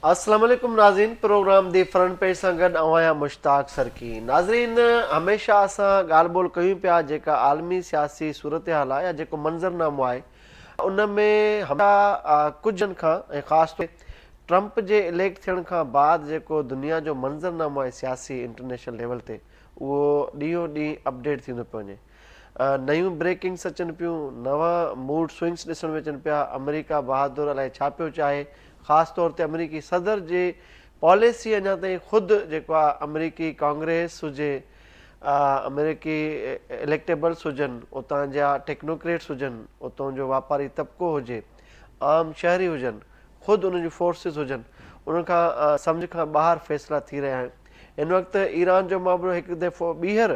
السلام عليڪم ناظرين پروگرام دي فرنٽ پيج سان گڏ آئون آهيان مشتاق سرڪي ناظرين هميشه اسان ڳالهه ٻولهه ڪيون پيا جيڪا عالمي سياسي صورتحال آهي يا جيڪو منظرنامو آهي ان ۾ هميشه ڪجهه کان ۽ خاص طور ٽرمپ جي اليڪٽ ٿيڻ کان بعد جيڪو دنيا جو منظرنامو آهي سياسي انٽرنيشنل ليول تي اهو ڏينهون ڏينهن اپڊيٽ ٿيندو پيو وڃي نيون بريڪنگس اچن پيون، نوان موڊ سوئنگس ڏسڻ ۾ اچن پيا، آمريڪا بهادر الائي ڇا پيو چاهي، خاص طور تي آمريڪي صدر جي پاليسي اڃا تائين خود جيڪو آ آمريڪي ڪانگريس هجي، آمريڪي اليڪٽيبلس هجن، اتان جا ٽيڪنوڪريٽس هجن، اتون جو واپاري طبقو هجي، عام شهري هجن، خود انهن جون فورسز هجن، انهن کان سمجهه کان ٻاهر فيصلا ٿي رهيا آهن. هن وقت ايران جو معاملو هڪ دفعو ٻيهر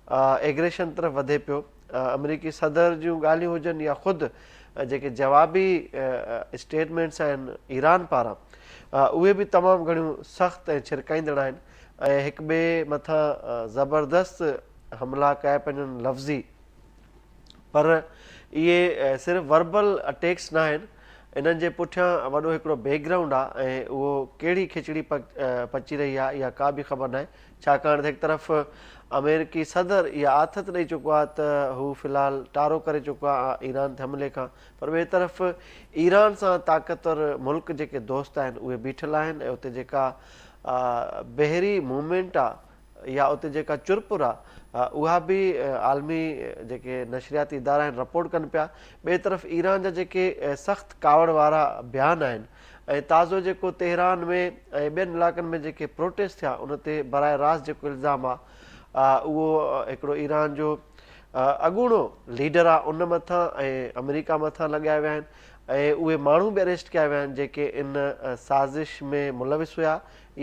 ايگريشن طرف وڌي پيو، آمريڪي صدر جون ڳالهيون هجن يا خود جيڪي جوابي اسٽيٽمينٽس آهن ايران پاران اهي به تمام گهڻيون سخت ۽ ڇرڪائيندڙ آهن ۽ هڪ ٻئي مٿان زبردست حملا ڪيا پيا وڃن لفظي پر اهي صرف وربل اٽيڪس ناهن انهن جي پٺيان وڏو هڪڙو بيڪ گرائونڊ آهي ۽ اهو ڪهڙي کچڙي پچي رهي آهي اها ڪا به خبر ناهي ڇاڪاڻ ته هڪ طرف آمريڪي صدر اها آٿت ڏئي چڪو آهي ته هو في الحال ٽارو ڪري چڪو آهي ايران تي حملي کان پر ٻئي طرف ايران سان طاقتور ملڪ جيڪي دوست آهن اهي بيٺل آهن ۽ اتي جيڪا بحري موومينٽ آهي يا اتي جيڪا چرپر آهي اها به عالمي جيڪي نشرياتي ادارا آهن رپورٽ ڪن پيا ٻئي طرف ايران جا جيڪي سخت ڪاوڙ وارا بيان آهن ۽ تازو جيڪو تهران ۾ ۽ ٻين علائقن ۾ جيڪي پروٽيسٽ ٿيا ان تي براه راست جيڪو الزام آ اهو هڪڙو ايران جو اڳوڻو ليڊر آ ان مٿان ۽ آمريڪا مٿان لڳايا ويا آهن ۽ اهي ماڻهو به اريسٽ ڪيا ويا آهن جيڪي ان سازش ۾ ملوث هيا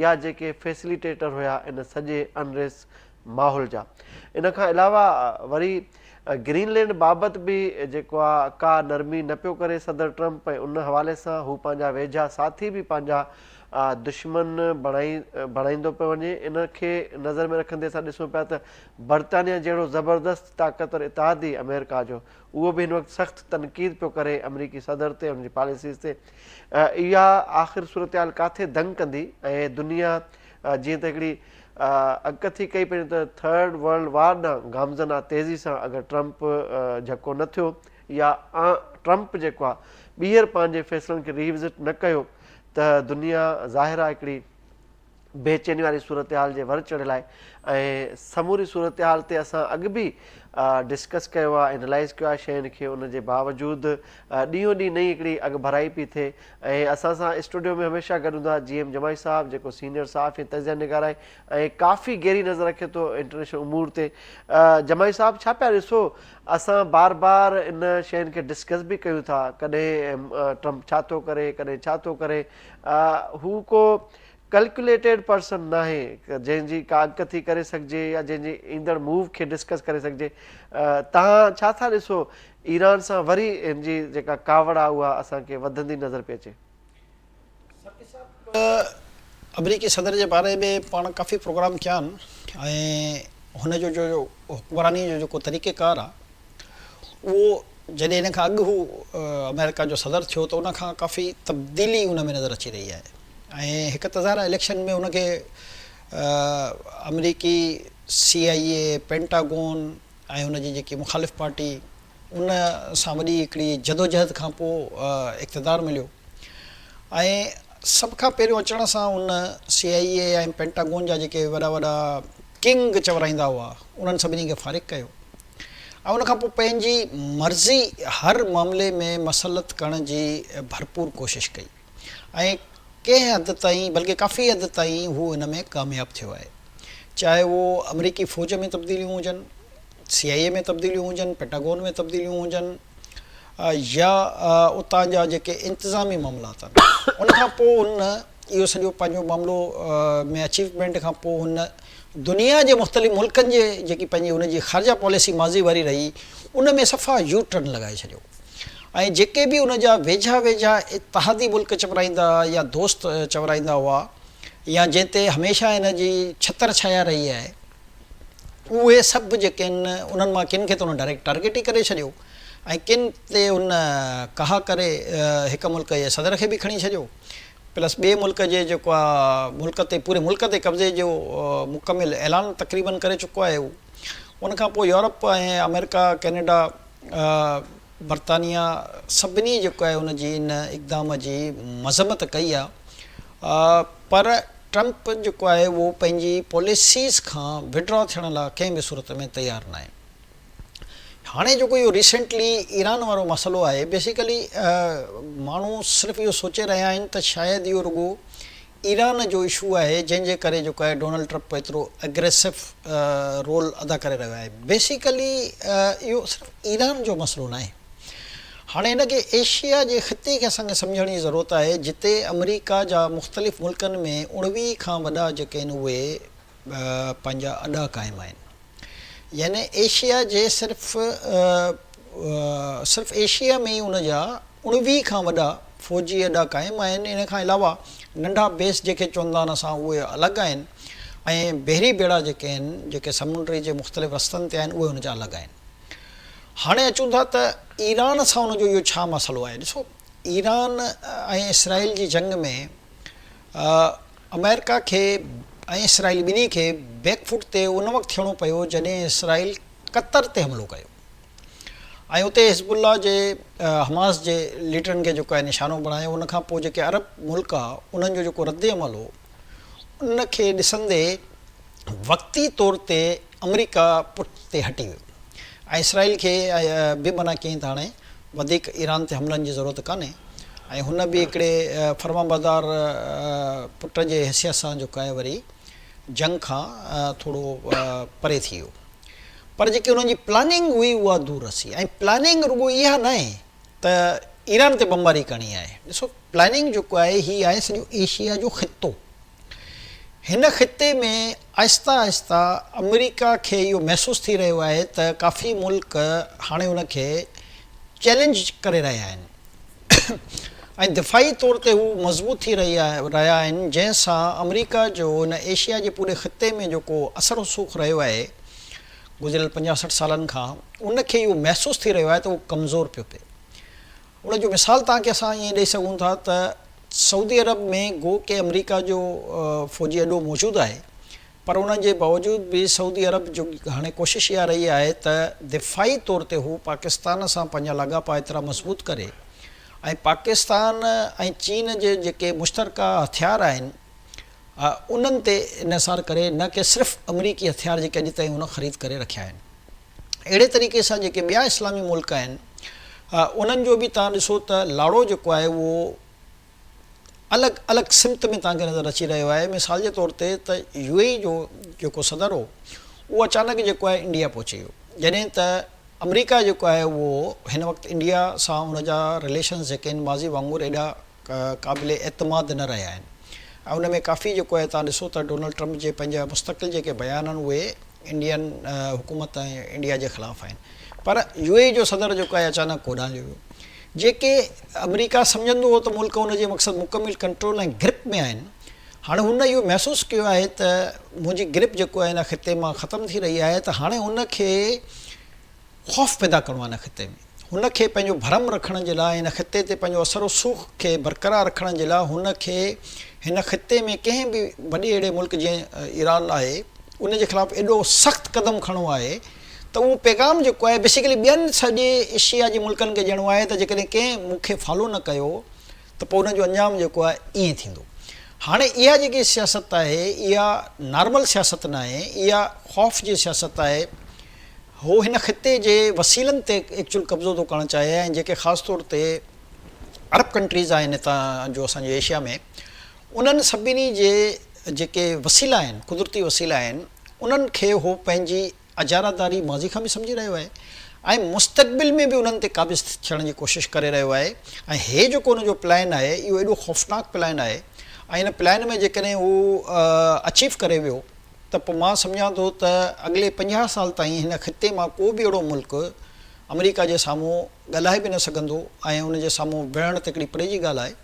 يا جيڪي فيسليٽيٽر هيا ان سڄي انريس ماحول جا ان کان علاوه وري گرين لينڊ بابت به جيڪو آ ڪا نرمي نه پيو ڪري صدر ٽرمپ ۽ ان حوالي سان هو پنهنجا ويجها ساٿي به پنهنجا دشمن بڻائيندو پيو وڃي ان کي نظر ۾ رکندي اسان ڏسون پيا ته برطانيا جهڙو زبردست طاقتور اتحادي آمريڪا جو اهو به هن وقت سخت تنقيد پيو ڪري آمريڪي صدر تي ان جي پاليسيز تي اها آخر صورتحال ڪاٿي دنگ ڪندي ۽ دنيا جيئن ته هڪڙي اڳڪٿي ڪئي پنهنجي ته ٿرڊ ورلڊ وار ڏانهن گامزن آ تيزي سان اگر ٽرمپ جهڪو نه ٿيو يا آن ٽرمپ جيڪو آ ٻيهر پنهنجي فيصلن کي ري وزٽ نه ڪيو ته دنيا ظاهر آ هڪڙي بي چيني واري صورتحال جي ور چڙهيل آهي ۽ سموري صورتحال تي اسان اڳ به ڊسڪس ڪيو آ انالائز ڪيو آ شين کي ان جي باوجود ڏينهون ڏينهن نئين هڪڙي اڳڀرائي پئي ٿئي ۽ اسان سان اسٽوڊيو ۾ هميشه گڏ هوندا جي ايم جماعي صاحب جيڪو سينيئر صحافي ۽ تجزيه نگار آهي ۽ ڪافي گهري نظر رکي ٿو انٽرنيشنل امور تي جماعي صاحب ڇا پيا ڏسو اسان بار بار ان شين کي ڊسڪس به ڪيون ٿا ڪڏهن ٽرمپ ڇا ٿو ڪري ڪڏهن ڇا ٿو ڪري هو ڪو ڪلڪوليٽيڊ پرسن ناهي جنهن جي ڪا اڳ ٿي ڪري سگهجي يا جنهن جي ايندڙ موو کي ڊسڪس ڪري سگهجي تان ڇا ٿا ڏسو ايران سان وري هن جي جيڪا ڪاوڙ آهي اها اسان کي وڌندي نظر پئي اچي. سرڪي صاحب آمريڪي صدر جي باري ۾ پاڻ ڪافي پروگرام ڪيا آهن ۽ هن جو جو حڪمراني جو جيڪو طريقه ڪار آهي اهو جڏهن ان کان اڳ هو آمريڪا جو صدر ٿيو ته ان کان ڪافي تبديلي ان ۾ نظر اچي رهي آهي ۽ هڪ ته ظاهر آهي اليڪشن ۾ ان کي آمريڪي سي آئي اي پينٽاگون ۽ ان جي جيڪي مخالف پارٽي ان سان وڏي هڪڙي جدوجهد کان پوء اقتدار مليو ۽ سڀ کان پهريون اچڻ سان ان سي آء اي ۽ پينٽاگون جا جيڪي وڏا وڏا ڪنگ چورائيندا هئا انهن سڀني کي فارغ ڪيو ۽ ان کان پوء پنهنجي مرضي هر معاملي ۾ مسلط ڪرڻ جي ڀرپور ڪوشش ڪئي. ۽ ڪنهن حد تائين بلڪه ڪافي حد تائين هو ان ۾ ڪامياب ٿيو آهي. چاهي اهو آمريڪي فوج ۾ تبديليون هجن، سي آء اي ۾ تبديليون هجن، پيٽاگون ۾ تبديليون هجن يا اتان جا جيڪي انتظامي معاملا اٿن. ان کان پوء هن اهو سڄو پنهنجو معاملو ۾ اچيومينٽ کان پوء هن دنيا جي مختلف ملڪن جي جيڪي پنهنجي ان جي خارجه پاليسي ماضي واري رهي ان ۾ صفا يو ٽرن لڳائي ڇڏيو ۽ جيڪي به ان جا ويجها ويجها اتحادي ملڪ چورائيندا يا دوست چورائيندا هئا يا جنهن تي هميشه ان جي ڇتر ڇايا رهي آهي اهي سڀ جيڪي آهن انهن مان ڪن کي ته ان ڊائريڪٽ ٽارگيٽ ئي ڪري ڇڏيو ۽ ڪن تي ان ڪها ڪري هڪ ملڪ جي صدر کي به کڻي ڇڏيو پلس ٻئي ملڪ جي جيڪو آ ملڪ تي پوري ملڪ تي قبضي جو مڪمل اعلان تقريبن ڪري چڪو آهي هو ان کان پوء يورپ ۽ آمريڪا ڪينيڊا برطانيا سڀني جيڪو آهي ان جي ان اقدام جي مذمت ڪئي آ پر ٽرمپ جيڪو آهي اهو پنهنجي پاليسيز کان وڊرا ٿيڻ لا ڪنهن به صورت ۾ تيار ناهي. هاڻي جيڪو اهو ريسينٽلي ايران وارو مسئلو آهي بيسيڪلي ماڻهو صرف اهو سوچي رهيا آهن ته شايد اهو رڳو ايران جو اشو آهي جنهن جي ڪري جيڪو آهي ڊونلڊ ٽرپ ايترو اگريسو رول ادا ڪري رهيو آهي بيسيڪلي اهو صرف ايران جو مسئلو ناهي هاڻي هن کي ايشيا جي خطي کي اسان کي سمجهڻ جي ضرورت آهي جتي آمريڪا جا مختلف ملڪن ۾ اڻويهه کان وڏا جيڪي آهن اهي پنهنجا اڏا قائم آهن. يعني ايشيا جي صرف صرف ايشيا ۾ ئي ان جا اڻويهه کان وڏا فوجي اڏا قائم آهن، ان کان علاوه ننڍا بيس جيڪي چوندا آهن اسان اهي الڳ آهن ۽ بحري ٻيڙا جيڪي آهن جيڪي سمنڊ جي مختلف رستن تي آهن اهي ان جا الڳ آهن. هاڻي اچون ٿا ته ايران سان ان جو اهو ڇا مسئلو آهي ڏسو ايران ۽ اسرائيل جي جنگ ۾ آمريڪا کي ۽ اسرائيل ٻنهي کي بيڪ فوٽ تي ان وقت ٿيڻو پيو جڏهن اسرائيل قطر تي حملو ڪيو ۽ اتي حزب الله جي حماس جي ليڊرن کي جيڪو آهي نشانو بڻايو ان کان پوء جيڪي عرب ملڪ هئا انهن جو جيڪو رد عمل هو ان کي ڏسندي وقتي طور تي آمريڪا پٺ تي هٽي ويو ۽ اسرائيل کي به منع ڪيائين ته هاڻي وڌيڪ ايران تي حملن جي ضرورت ڪانهي ۽ هن به هڪڙي فرمانبردار پٽ جي حيثيت سان جوڪاهي وري جنگ کان ٿورو پري ٿي ويو پر جيڪي انهن جي پلاننگ هئي اها دور رسي ۽ پلاننگ رڳو اها ناهي ته ايران تي بمباري ڪرڻي آهي ڏسو پلاننگ جيڪو آهي هي آهي سڄو ايشيا جو خطو هن خطي ۾ آهستي آهستي آمريڪا کي اهو محسوس ٿي رهيو آهي ته ڪافي ملڪ هاڻي ان کي چئلينج ڪري رهيا آهن ۽ دفاعي طور تي هو مضبوط ٿي رهيا آهن جنهن سان آمريڪا جو هن ايشيا جي پوري خطي ۾ جيڪو اثر رسوخ رهيو آهي گذريل پنجاهه سٺ سالن کان ان کي اهو محسوس ٿي رهيو آهي ته اهو ڪمزور پيو پئي ان جو مثال توهان کي اسان ائين ڏئي سگهون ٿا ته سعودي عرب ۾ گو ڪي آمريڪا جو فوجي اڏو موجود آهي پر ان جي باوجود به سعودي عرب جو هاڻي ڪوشش اها رهي آهي ته دفاعي طور تي هو پاڪستان سان پنهنجا لاڳاپا ايترا مضبوط ڪري ۽ پاڪستان ۽ چين جي جيڪي مشترڪه هٿيار آهن انهن تي انحصار ڪري نه ڪي صرف آمريڪي هٿيار جيڪي اڄ تائين هن خريد ڪري رکيا آهن. اهڙي طريقي سان جيڪي ٻيا اسلامي ملڪ آهن انهن جو به توهان ڏسو ته لاڙو جيڪو آهي اهو الڳ الڳ سمت ۾ توهان کي نظر اچي رهيو آهي مثال جي طور تي ته يو اي اي جو جيڪو صدر هو اهو اچانڪ جيڪو آهي انڊيا پهچي ويو جڏهن ته آمريڪا جيڪو آهي اهو هن وقت انڊيا سان ان جا رليشنز جيڪي آهن ماضي وانگر ايڏا قابل اعتماد نه رهيا آهن ۽ ان ۾ ڪافي جيڪو آهي توهان ڏسو ته ڊونلڊ ٽرمپ جي پنهنجا مستقل جيڪي بيان آهن اهي انڊين حڪومت ۽ انڊيا جي خلاف آهن پر يو اي اي جو صدر جيڪو آهي اچانڪ ڪوڏانهليو ويو جيڪي آمريڪا سمجهندو هو ته ملڪ ان جي مقصد مڪمل ڪنٽرول ۽ گرپ ۾ آهن هاڻي هن اهو محسوس ڪيو آهي ته منهنجي گرپ جيڪو آهي ان خطي مان ختم ٿي رهي آهي ته هاڻي ان کي خوف پيدا ڪرڻو آهي ان خطي ۾. هن کي پنهنجو ڀرم رکڻ جي لاء هن خطي تي پنهنجو اثر و سوخ کي برقرار رکڻ جي لاء هن کي هن خطي ۾ ڪنهن به وڏي اهڙي ملڪ جيئن ايران آهي ان جي خلاف ايڏو سخت قدم کڻڻو آهي ته اهو پيغام جيڪو آهي بيسيڪلي ٻين سڄي ايشيا جي ملڪن کي ڏيڻو آهي ته جيڪڏهن ڪنهن مون کي فالو نه ڪيو ته پوء ان جو انجام جيڪو آهي ائين ٿيندو هاڻي اها جيڪي سياست آهي اها نارمل سياست ناهي اها خوف جي سياست آهي. هو هن خطي جي وسيلن تي ايڪچوئل قبضو ٿو ڪرڻ چاهي ۽ جيڪي خاص طور تي عرب ڪنٽريز آهن هتان جو اسان جي ايشيا ۾ انهن سڀني جي جيڪي وسيلا آهن قدرتي وسيلا آهن انهن کي هو پنهنجي اجاراداري ماضي کان به سمجهي رهيو آهي ۽ مستقبل ۾ به انهن تي قابض ٿيڻ جي ڪوشش ڪري رهيو آهي ۽ هي جيڪو ان جو پلان آهي اهو ايڏو خوفناڪ پلان آهي ۽ ان پلان ۾ جيڪڏهن هو اچيو ڪري ويو ته پوء مان سمجهان ٿو ته اڳلي پنجاهه سال تائين هن خطي مان ڪو به اهڙو ملڪ آمريڪا جي سامهون ڳالهائي به نه سگهندو ۽ ان جي سامهون ويهڻ ته هڪڙي پري جي ڳالهه آهي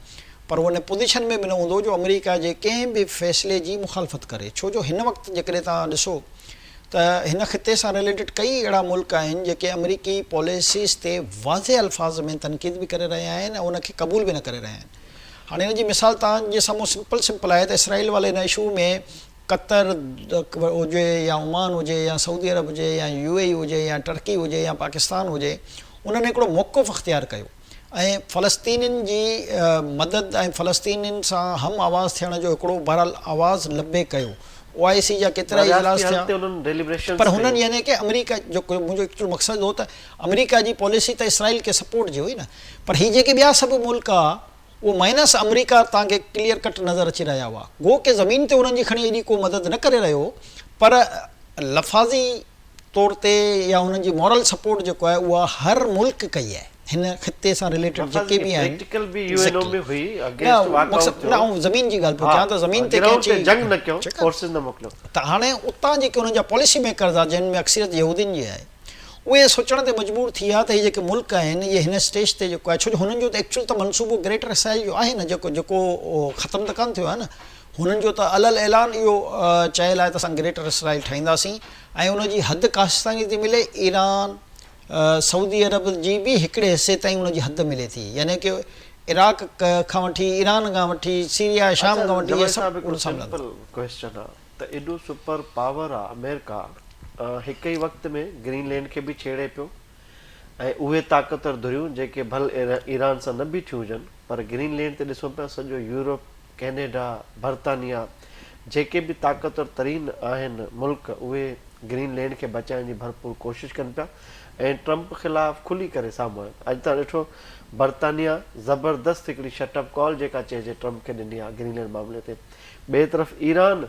پر هو ان پوزيشن ۾ به نه هوندو جو آمريڪا جي ڪنهن به فيصلي جي مخالفت ڪري ڇو جو هن وقت جيڪڏهن توهان ڏسو ته هن خطي سان رليٽيڊ ڪئي اهڙا ملڪ آهن جيڪي آمريڪي پاليسيز تي واضح الفاظ ۾ تنقيد به ڪري رهيا آهن ۽ ان کي قبول به نه ڪري رهيا آهن هاڻي ان جي مثال توهان جي سامهون سمپل سمپل آهي ته اسرائيل والي ان اشو ۾ قطر هجي يا عمان هجي يا سعودي عرب هجي يا يو اي اي هجي يا ٽرڪي هجي يا پاڪستان هجي انهن هڪڙو موقف اختيار ڪيو ۽ فلسطينين جي مدد ۽ فلسطينين سان هم آواز ٿيڻ جو هڪڙو بهرحال آواز لبي ڪيو او آء سي جا ڪيترا ئي اجلاس ٿيا پر هنن يعني ڪه آمريڪا جو منهنجو ايڪچوئل مقصد هو ته آمريڪا جي پاليسي ته اسرائيل کي سپورٽ جي هئي نه پر هي جيڪي ٻيا سڀ ملڪ ها اهو مائنس آمريڪا تان کي ڪليئر ڪٽ نظر اچي رهيا هئا. گو ڪي زمين تي انهن جي کڻي ايڏي ڪو مدد نه ڪري رهيو هو پر لفاظي طور تي يا انهن جي مورل سپورٽ جيڪو آهي اها هر ملڪ ڪئي آهي هن خطي سان رليٽيڊ جيڪي به آهن نه آئون زمين جي ڳالهه پيو ڪيان ته زمين تي ڪنهن چي ٺيڪ آهي ته هاڻي اتان جيڪي انهن جا پاليسي ميڪرز آهن جن ۾ اڪثريت يهودين جي آهي اهي سوچڻ تي مجبور ٿي ويا ته هي جيڪي ملڪ آهن اهي هن اسٽيج تي جيڪو آهي ڇو جو هنن جو ته ايڪچوئل ته منصوبو گريٽر اسرائيل جو آهي نه جيڪو جيڪو ختم ته ڪانه ٿيو آهي نه هنن جو ته الل اعلان اهو چيل آهي ته اسان گريٽر اسرائيل ٺاهينداسين ۽ ان جي حد ڪاشتستاني تي ملي ايران سعودي عرب جي به هڪڙي حصي تائين ان جي حد ملي ٿي يعني ڪي عراق کان وٺي ايران کان وٺي سيريا شام کان وٺي اهي سڀ ان سان ملندا ته ايڏو سپر پاور آ آمريڪا هڪ ئي وقت ۾ گرين لينڊ کي به ڇيڙي پيو ۽ اهي طاقتور ڌريون جيڪي ڀل ايران سان نه بيٺيون هجن پر گرين لينڊ تي ڏسون پيا سڄو يورپ ڪينيڊا برطانيا جيڪي به طاقتور ترين آهن ملڪ اهي گرين لينڊ کي بچائڻ جي ڀرپور ڪوشش ڪن پيا ۽ ٽرمپ خلاف کلي ڪري سامهون آهن اڄ تان ڏٺو برطانيا زبردست هڪڙي شٽ اپ ڪال جيڪا چئجي ٽرمپ کي ڏني آ گرين لينڊ معاملي تي ٻئي طرف ايران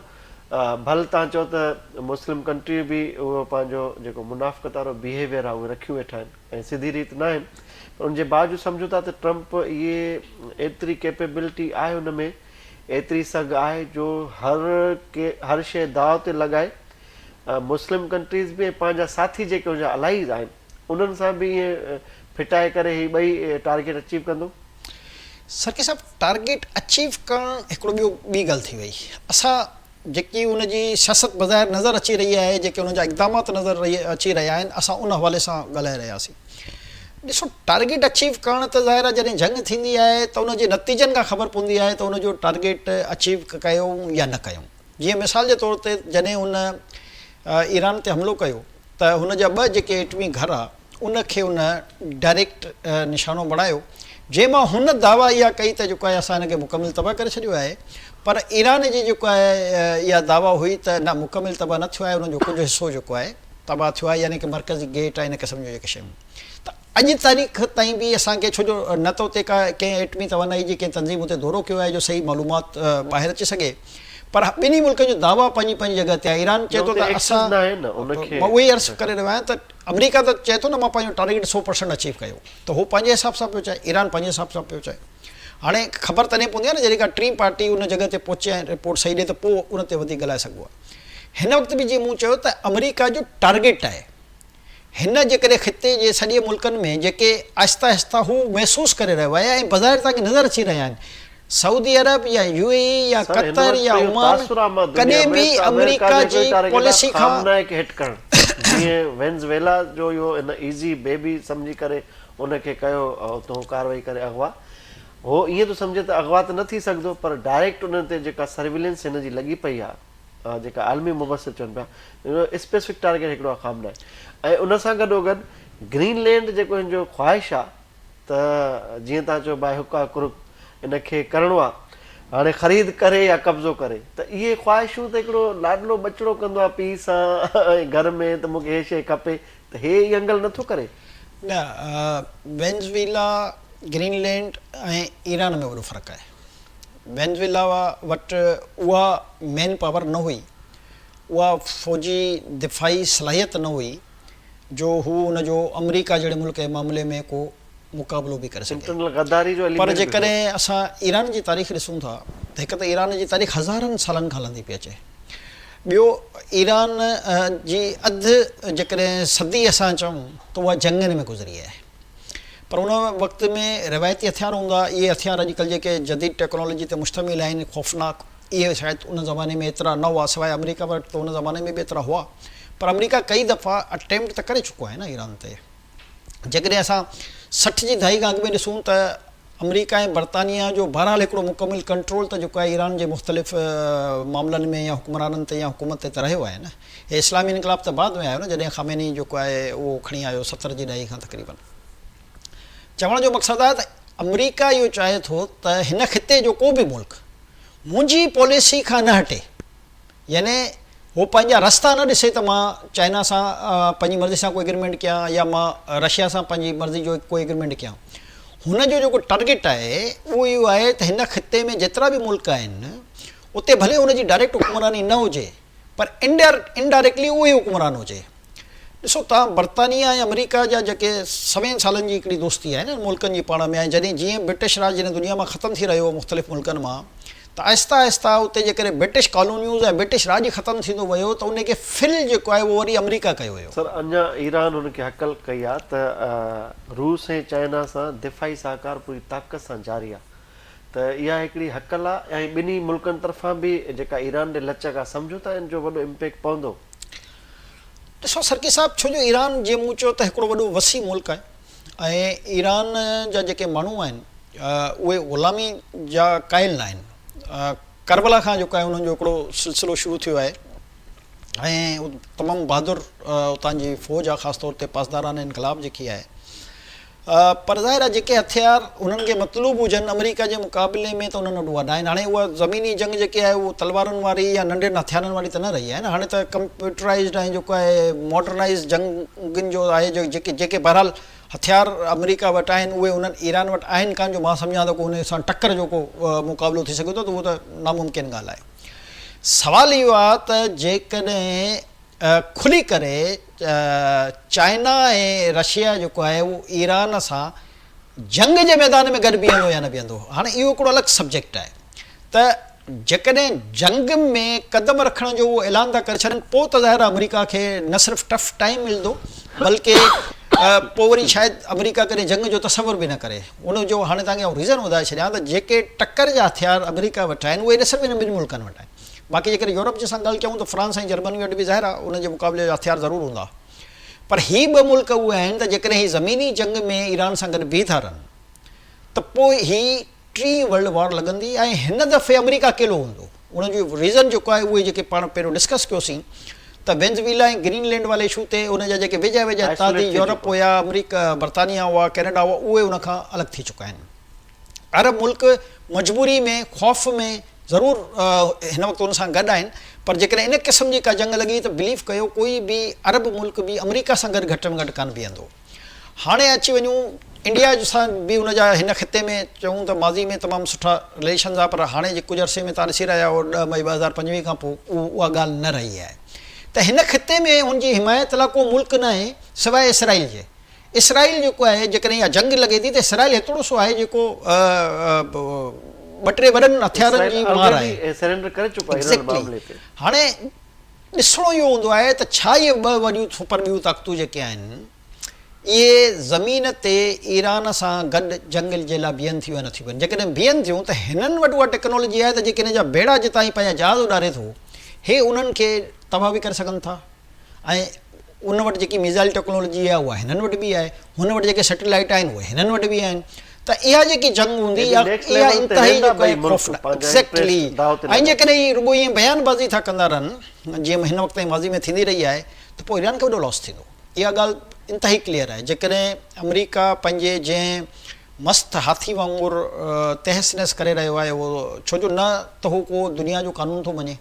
ڀل تان چئو ته مسلم ڪنٽريون به اهو پنهنجو جيڪو منافقت وارو بيهيويئر آهي اهو رکيون ويٺا آهن ۽ سڌي ريت ناهن پر ان جي باوجود سمجهون ٿا ته ٽرمپ اهي ايتري ڪيپيبلٽي آهي ان ۾ ايتري سگهه آهي جو هر هر شيء داء تي لڳائي مسلم ڪنٽريز به ۽ پنهنجا ساٿي جيڪي ان جا الائيز آهن انهن سان به ائين ڦٽائي ڪري هي ٻئي ٽارگيٽ اچيو ڪندو؟ سرڪي صاحب ٽارگيٽ اچيو ڪرڻ هڪڙو ٻيو ٻي ڳالهه ٿي وئي اسان جيڪي ان جي سياست بظاهر نظر اچي رهي آهي جيڪي انهن جا اقدامات نظر رهي اچي رهيا آهن اسان ان حوالي سان ڳالهائي رهياسين ڏسو ٽارگيٽ اچيو ڪرڻ ته ظاهر آهي جڏهن جنگ ٿيندي آهي ته ان جي نتيجن کان خبر پوندي آهي ته ان جو ٽارگيٽ اچيو ڪيو يا نه ڪيو جيئن مثال جي طور تي جڏهن هن ايران تي حملو ڪيو ته هن جا ٻه جيڪي ايٽمي گهر ها ان کي هن ڊائريڪٽ نشانو بڻايو جنهن مان هن دعويٰ اها ڪئي ته جيڪو آهي اسان هن کي مڪمل تباهه ڪري ڇڏيو آهي پر ايران جي جيڪو آهي اها دعويٰ هئي ته نه مڪمل تباهه نه ٿيو آهي انهن جو ڪجهه حصو جيڪو آهي تباهه ٿيو آهي يعني ڪي مرڪزي گيٽ ۽ ان قسم جون جيڪي شيون ته اڄ تاريخ تائين به اسان کي ڇو جو نه ته اتي ڪا ڪنهن ايٽمي توانائي جي ڪنهن تنظيم اتي دورو ڪيو آهي جو صحيح معلومات ٻاهر اچي سگهي. پر ٻنهي ملڪن جو دعويٰ پنهنجي پنهنجي جڳهه تي آهي، ايران چئي ٿو ته اسان مان اهو ئي عرض ڪري رهيو آهيان ته آمريڪا ته چئي ٿو نه مان پنهنجو ٽارگيٽ سؤ پر سينٽ اچيو ڪيو ته هو پنهنجي حساب سان پيو چاهي، ايران پنهنجي حساب سان پيو چاهي. هاڻي خبر تڏهن پوندي آهي نه جڏهن ڪا ٽين پارٽي ان جڳهه تي پهچي ۽ رپورٽ صحيح ڏئي ته پوء ان تي وڌيڪ ڳالهائي سگهبو آهي. هن وقت به جيئن مون چيو ته آمريڪا جو ٽارگيٽ آهي. هن جيڪڏهن خطي جي سڏي ملڪن ۾ جيڪي آهستي آهستي هو محسوس ڪري رهيو آهي ۽ بظاهر توهان کي نظر اچي رهيا آهن سعودي عرب يا يو اي اي يا سر هن قطر وقت يا اهو عمان تاثر آ مان دنيا ڪڏهن به ۾ ته آمريڪا آمريڪا جي هڪڙي جي ٽاري کي ڏا پاليسي کان خامنه کي هٽ ڪرڻ جيئن وينزويلا جو اهو هن ايزي بيبي سمجهي ڪري ان کي ڪيو اتهون ڪاروائي ڪري اغوا هو ائين ٿو سمجهي ته اغوا ته نه ٿي سگهدو پر ڊائريڪٽ انهن تي جيڪا سرويلنس هن جي لڳي پئي آ جيڪا عالمي مبصر چون پيا جو اسپيسفڪ ٽارگيٽ هڪڙو آ خام ناهي ۽ ان سان گڏو گڏ گرين لينڊ جيڪو هن جو خواهش آ ته جيئن تان چئو باء هڪ آ ڪرڪ ان کي ڪرڻو آ هاڻي خريد ڪري يا قبضو ڪري ته اهي خواهشون ته هڪڙو لاڏلو ٻچڙو ڪندو آ پيء سان ۽ گهر ۾ ته مون کي هي شيء کپي ته هي ئي انگل نه ٿو ڪري. نه وينزويلا، گرين لينڊ ۽ ايران ۾ وڏو فرق آهي. وينزويلا وٽ اها مين پاور نه هئي، اها فوجي دفاعي صلاحيت نه هئي جو هو ان جو آمريڪا جهڙي ملڪ جي معاملي ۾ ڪو مقابلو به ڪري سگهي. پر جيڪڏهن اسان ايران جي تاريخ ڏسون ٿا ته هڪ ته ايران جي تاريخ هزارن سالن کان هلندي پئي اچي، ٻيو ايران جي اڌ جيڪڏهن صدي اسان چئون ته اها جنگن ۾ گذري آهي. پر ان وقت ۾ روايتي هٿيار هوندا، اهي هٿيار اڄڪلهه جيڪي جديد ٽيڪنالاجي تي مشتمل آهن، خوفناڪ، اهي شايد ان زماني ۾ ايترا نه هئا، سواء آمريڪا وٽ ته ان زماني ۾ به ايترا هئا، پر آمريڪا ڪئي دفعا اٽيمپٽ ته ڪري چڪو آهي نه ايران تي. جيڪڏهن اسان سٺ جي دهائي کان اڳ ۾ ڏسون ته آمريڪا ۽ برطانيا جو بهرحال هڪڙو مڪمل ڪنٽرول ته جيڪو آهي ايران جي مختلف معاملن ۾ يا حڪمرانن تي يا حڪومت تي ته رهيو آهي نه. هي اسلامي انقلاب ته بعد ۾ آيو نه جڏهن خامني جيڪو آهي اهو کڻي آيو ستر جي ڏهائي کان تقريبن. چوڻ جو مقصد آهي ته آمريڪا اهو چاهي ٿو ته هن خطي جو ڪو به ملڪ منهنجي پاليسي کان نه هٽي. يعني هو پنهنجا رستا نه ڏسي ته مان چائنا سان پنهنجي مرضي سان ڪو ايگريمينٽ ڪيان يا مان رشيا سان پنهنجي مرضي جو ڪو ايگريمينٽ ڪيان. هن جو جيڪو ٽرگيٽ آهي اهو اهو آهي ته هن خطي ۾ جيترا به ملڪ آهن اتي ڀلي هن جي ڊائريڪٽ حڪمراني نه هجي پر انڊائريڪٽلي اهو ئي حڪمران هجي. ڏسو توهان برطانيه ۽ آمريڪا جا جيڪي سوين سالن جي هڪڙي دوستي آهي نه ان ملڪن جي پاڻ ۾ ۽ جڏهن جيئن برٽش راڄ هن دنيا مان ختم ٿي رهيو هو مختلف ملڪن مان ته آهسته آهسته اتي جيڪڏهن برٽش ڪالونيوز ۽ برٽش راڄ ختم ٿيندو ويو ته ان کي فل جيڪو آهي اهو وري آمريڪا ڪيو ويو. سر اڃا ايران ان کي هڪل ڪئي آهي ته روس ۽ چائنا سان دفاعي سهڪار پوري طاقت سان جاري آهي ته اها هڪڙي هڪل آهي ۽ ٻنهي ملڪن طرفان به جيڪا ايران ڏي لچڪ آهي سمجهون ٿا ان جو وڏو امپيڪٽ پوندو. ڏسو سرڪي صاحب ڇو جو ايران جيئن مون چيو ته هڪڙو وڏو وسيع ملڪ آهي ۽ ايران جا جيڪي ماڻهو آهن اهي غلامي جا قائل ناهن ڪربلا کان جيڪو آهي انهن جو هڪڙو سلسلو شروع ٿيو آهي ۽ تمام بهادر اتان جي فوج آهي خاص طور تي پاسداران انقلاب جيڪي آهي پر ظاهر آهي جيڪي هٿيار هنن کي مطلوب هجن آمريڪا جي مقابلي ۾ ته هنن وٽ اها ناهن. هاڻي اها زميني جنگ جيڪي آهي اهو تلوارن واري يا ننڍين هٿيارن واري ته نه رهي آهي نه. هاڻي ته ڪمپيوٽرائيزڊ ۽ جيڪو آهي ماڊرنائيز جنگين جو آهي جيڪي جيڪي بهرحال هٿيار آمريڪا وٽ آهن اهي هنن ايران وٽ آهن ڪانه جو مان سمجهان ٿو ڪو هن سان ٽڪر جو ڪو مقابلو ٿي سگهي ٿو ته اهو ته ناممڪن ڳالهه آهي. سوال اهو آهي ته جيڪڏهن کلي ڪري چائنا ۽ رشيا جيڪو آهي اهو ايران سان جنگ جي ميدان ۾ گڏ بيهندو يا نه بيهندو هاڻي اهو هڪڙو الڳ سبجيڪٽ آهي ته جيڪڏهن جنگ ۾ قدم رکڻ جو اهو اعلان ٿا ڪري ڇڏن پوء ته ظاهر آهي آمريڪا کي نه صرف ٽف ٽائيم ملندو بلڪه پوء وري شايد آمريڪا ڪڏهن جنگ جو تصور به نه ڪري ان جو هاڻي توهان کي آئون ريزن ٻڌائي ڇڏيان ته جيڪي ٽڪر جا هٿيار آمريڪا وٽ آهن اهي نه صرف انهن ٻن ملڪن وٽ آهن باقي جيڪڏهن يورپ جي سان ڳل ڪيون ته فرانس ۽ جرمني وٽ به ظاهر آهي انهن جي مقابلي جا هٿيار ضرور هوندا پر هي ٻه ملڪ اهي آهن ته جيڪڏهن هي زميني جنگ ۾ ايران سان گڏ بيهي ٿا رهن ته پوء هي ٽين ورلڊ وار لڳندي ۽ هن دفعي آمريڪا اڪيلو هوندو ان جو ريزن جيڪو آهي اهي جيڪي پاڻ پهريون ڊسڪس ڪيوسين ته وينزويلا ۽ گرين لينڊ واري اشو تي ان جا جيڪي ويجها ويجها اتحادي يورپ هيا آمريڪا برطانيا هئا ڪينيڊا هئا اهي ان کان الڳ ٿي چڪا آهن. عرب ملڪ مجبوري ۾ خوف ۾ ضرور هن وقت ان سان گڏ آهن پر جيڪڏهن ان قسم جي ڪا جنگ لڳي ته بليف ڪيو ڪوئي به عرب ملڪ به آمريڪا سان گڏ گهٽ ۾ گهٽ ڪانه بيهندو. هاڻي اچي وڃون انڊيا سان به ان جا هن خطي ۾ چئون ته ماضي ۾ تمام سٺا رليشنز آهي پر هاڻي جي ڪجهه عرصي ۾ تان ڏسي رهيا آهيو ڏهه مئي ٻه هزار پنجويهه کان پوء اها ڳالهه نه رهي آهي ته هن خطي ۾ هن جي حمايت لاء ڪو ملڪ ناهي سواء اسرائيل جي. اسرائيل جيڪو آهي جيڪڏهن اها جنگ لڳي ٿي ته اسرائيل هيتوڙو سو آهي جيڪو ٻه ٽي وڏن هٿيارن جي مار آهي. ايگزيڪٽلي هاڻي ڏسڻو اهو هوندو آهي ته ڇا اهي ٻه وڏيون سپر ٻيون طاقتون جيڪي آهن اهي زمين تي ايران سان گڏ جنگ جي لاء بيهن ٿيون يا نٿيون بيهن جيڪڏهن بيهن ٿيون ته هنن وٽ اها ٽيڪنالاجي آهي ته جيڪي هن جا بيڙا جتان هي پنهنجا جهاز اڏاري ٿو هي انهن کي تباهه به ڪري سگهن ٿا. ۽ ان وٽ جيڪي ميزائل ٽيڪنالاجي آهي اها هنن وٽ به آهي، هن وٽ جيڪي سيٽلائيٽ آهن اهي هنن وٽ به آهن ته اها جيڪي جنگ هوندي اها انتهائي جيڪو آهي خوفناڪ ايگزيڪٽلي ۽ جيڪڏهن هي رڳو ائين بيان بازي ٿا ڪندا رهن جيئن هن وقت تائين ماضي ۾ ٿيندي رهي آهي ته پوء ايران کي وڏو لاس ٿيندو اها ڳالهه انتهائي ڪليئر آهي جيڪڏهن آمريڪا پنهنجي جنهن مست هاٿي وانگر تهس نهس ڪري رهيو آهي اهو ڇو جو نه ته هو ڪو دنيا جو قانون ٿو مڃي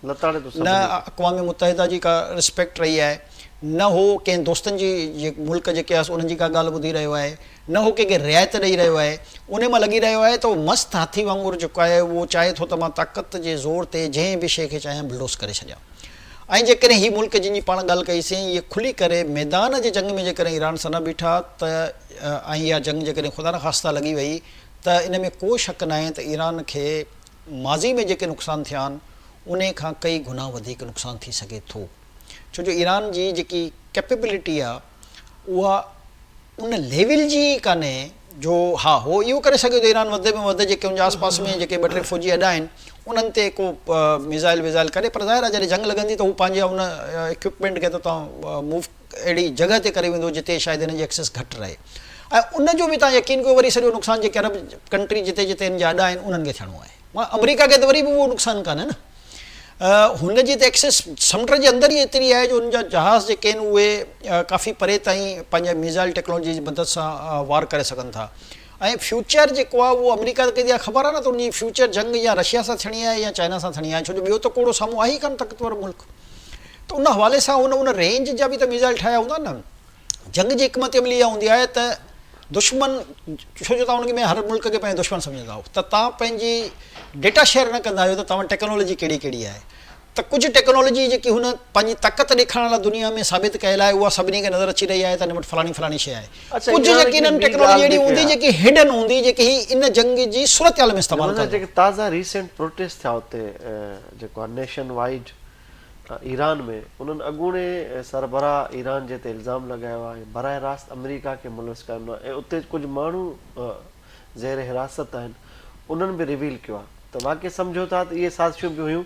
نه اقوام متحده جي ڪا رسپيڪٽ رهي آهي نه هو ڪنهن دوستن جي ملڪ جيڪي آهي انهن جي ڪا ڳالهه ٻڌي رهيو آهي نه هو ڪنهن کي رعايت ڏئي رهيو آهي انهي مان لڳي رهيو آهي ته اهو مست هاٿي وانگر جيڪو آهي اهو چاهي ٿو ته مان طاقت جي زور تي جنهن به شيء کي چاهيان بلڊوز ڪري ڇڏيان ۽ جيڪڏهن هي ملڪ جن جي پاڻ ڳالهه ڪئي سين اهي کلي ڪري ميدان جي جنگ ۾ جيڪڏهن ايران سان نه بيٺا ته ۽ اها جنگ جيڪڏهن خدا نخواسته لڳي وئي ته ان ۾ ڪو شڪ ناهي ته ايران کي ماضي ۾ جيڪي نقصان ٿيا آهن انهي کان ڪئي گنا وڌيڪ نقصان ٿي سگهي ٿو ڇو جو ايران جي جيڪي ڪيپيبلٽي آهي اها ان ليول جي ئي ڪانهي جو ها هو اهو ڪري سگهي ٿو ايران وڌ ۾ وڌ جيڪي ان جي آسپاس ۾ جيڪي ٻه ٽي فوجي اڏا آهن انهن تي ڪو ميزائل ويزائل ڪري پر ظاهر آهي جڏهن جنگ لڳندي ته هو پنهنجي ان اڪوپمينٽ کي ته تون موو اهڙي جڳهه تي ڪري ويندو جتي شايد هن جي ايڪسيس گهٽ رهي ۽ ان جو به تان يقين ڪيو وري سڄو نقصان جيڪي عرب ڪنٽري جتي جتي هن جا اڏا آهن انهن کي ٿيڻو آهي مگر آمريڪا کي ته وري به اهو نقصان ڪانهي نه هن جي ته ايڪسيس سمنڊ جي اندر ئي ايتري آهي جو هن جا جهاز جيڪي آهن اهي ڪافي پري تائين پنهنجي ميزائل ٽيڪنالاجي جي مدد سان وار ڪري سگهن ٿا ۽ فيوچر جيڪو آهي اهو آمريڪا ته ڪيندي آهي خبر آهي نه ته ان جي فيوچر جنگ يا رشيا سان ٿيڻي آهي يا چائنا سان ٿيڻي آهي ڇو جو ٻيو ته ڪوڙو سامهون آهي ئي ڪانه طاقتور ملڪ ته ان حوالي سان هن ان رينج جا به ته ميزائل ٺاهيا هوندا نه جنگ جي حڪمت عملي اها هوندي آهي ته دشمن ڇو جو توهان ان ۾ هر ملڪ کي پنهنجو دشمن سمجهندا آهيو ته توهان پنهنجي ڊيٽا شيئر نه ڪندا آهيو ته توهان ٽيڪنالاجي ڪهڙي ڪهڙي آهي ته ڪجهه ٽيڪنالاجي جيڪي هن پنهنجي طاقت ڏيکارڻ لاء دنيا ۾ ثابت ڪيل آهي اها سڀني کي نظر اچي رهي آهي ته هن وٽ فلاڻي فلاڻي شيء آهي ڪجهه يقينن ٽيڪنالاجي اهڙي هوندي جيڪي هڊن هوندي جيڪي هي ان جنگ جي صورتحال ۾ استعمال ڪندو. جيڪي تازا ريسينٽ پروٽيسٽ ٿيا اتي جيڪو آهي نيشن وائيڊ ايران ۾ انهن اڳوڻي سربراهه ايران جي تي الزام لڳايو آهي ۽ براه راست آمريڪا کي ملوث ڪيو آهي ۽ اتي ڪجهه ماڻهو زير حراست آهن انهن به ريويل ڪيو آهي ته واقعي سمجهو ٿا ته اهي سازشون به هيون.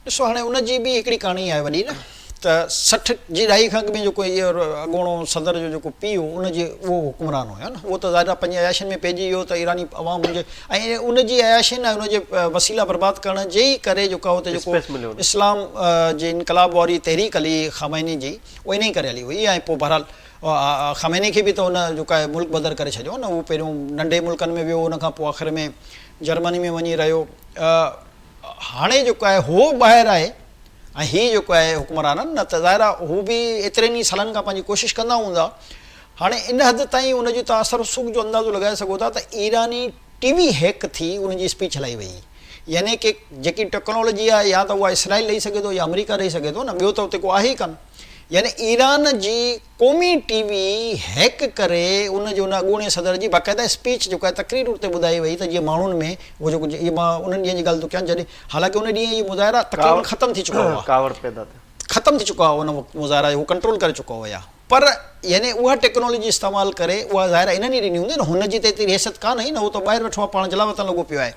ڏسو هاڻي ان جي به هڪڙي ڪهاڻي آهي وڏي نه ته سٺ جي ڏهائي کان اڳ ۾ جيڪو اهي اڳوڻو صدر جو جيڪو پيء هو ان جي اهو حڪمران هو نه اهو ته ظاهر آهي پنهنجي عياشين ۾ پئجي ويو ته ايراني عوام ان جي ۽ ان جي عياشين ۽ ان جي وسيلا برباد ڪرڻ جي ئي ڪري جيڪو اهو ته جيڪو اسلام جي انقلاب واري تحريڪ هلي خامني جي اهو انهي ڪري هلي هئي ۽ پوء بهرحال خامني کي به ته ان جوڪاهي ملڪ بدر ڪري ڇڏيو نه هو پهريون ننڍي ملڪن ۾ ويو ان کان پوء آخر ۾ جرمني ۾ وڃي رهيو هاڻي جيڪو آهي هو ٻاهر آهي ۽ هي جيڪو آهي حڪمرانن نه ته ظاهر آهي هو به ايترن ئي سالن کان پنهنجي ڪوشش ڪندا هوندا هاڻي ان حد تائين ان جي تان اثر رسوخ جو اندازو لڳائي سگهو ٿا ته ايراني ٽي وي هيڪ ٿي ان جي اسپيچ هلائي وئي يعني ڪي جيڪي ٽيڪنالاجي آهي يا ته اها اسرائيل ڏئي سگهي ٿو يا آمريڪا ڏئي سگهي ٿو نه ٻيو ته اتي ڪو آهي ئي ڪانه. يعني ايران جي قومي ٽي وي هيڪ ڪري ان جي ان اڳوڻي صدر جي باقاعده اسپيچ جيڪو آهي تقرير اتي ٻڌائي وئي ته جيئن ماڻهن ۾ اهو جيڪو اهي مان انهن ڏينهن جي ڳالهه ٿو ڪيان جڏهن حالانڪه ان ڏينهن اهي مظاهرا تقريبن ختم ٿي چڪا هئا ڪاوڙ پيدا ٿي ختم ٿي چڪا هئا ان وقت مظاهرا اهو ڪنٽرول ڪري چڪا هيا پر يعني اها ٽيڪنالاجي استعمال ڪري اها ظاهر انهن ئي ڏني هوندي نه هن جي ته ايتري ريست ڪانه هئي نه هو ته ٻاهر ويٺو آهي پاڻ جلاوطن لڳو پيو آهي